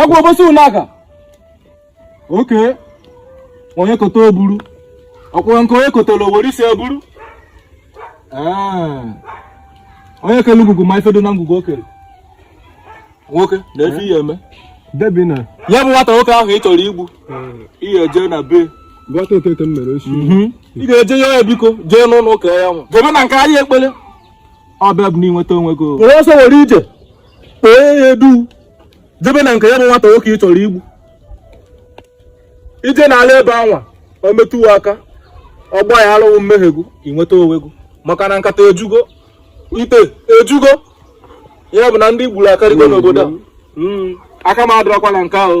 egwu obosi ụlaga oke onye kota o buru ọkwụrụ nke onye kotara o were isi buru onye kele ngwugwu ma ife dị na ngwugwu o kere nwoke na efe ihe eme jebe na ya bụ nwata nwoke ahụ ị chọrọ igbu ihe eje na be gwata okeke m mere ọ sị ị ga-eje ya ya biko jee n'ụlọ ụka ya nwa jebe na nke anyị ekpere ọ bịa bụ na i nweta onwe gị were ọsọ were ije kpee ya edu jebe na nke ya bụ nwata nwoke ị chọrọ igbu i jee n'ala ebe anwa o metụwa aka ọ gbaghalụ gị mmehie gị i nweta onwe gị maka na nkata ejugo ite ejugo ya bụ na ndị i gburu akarịgo n'obodo a hmm. aka m adịrọkwa na nke ahụ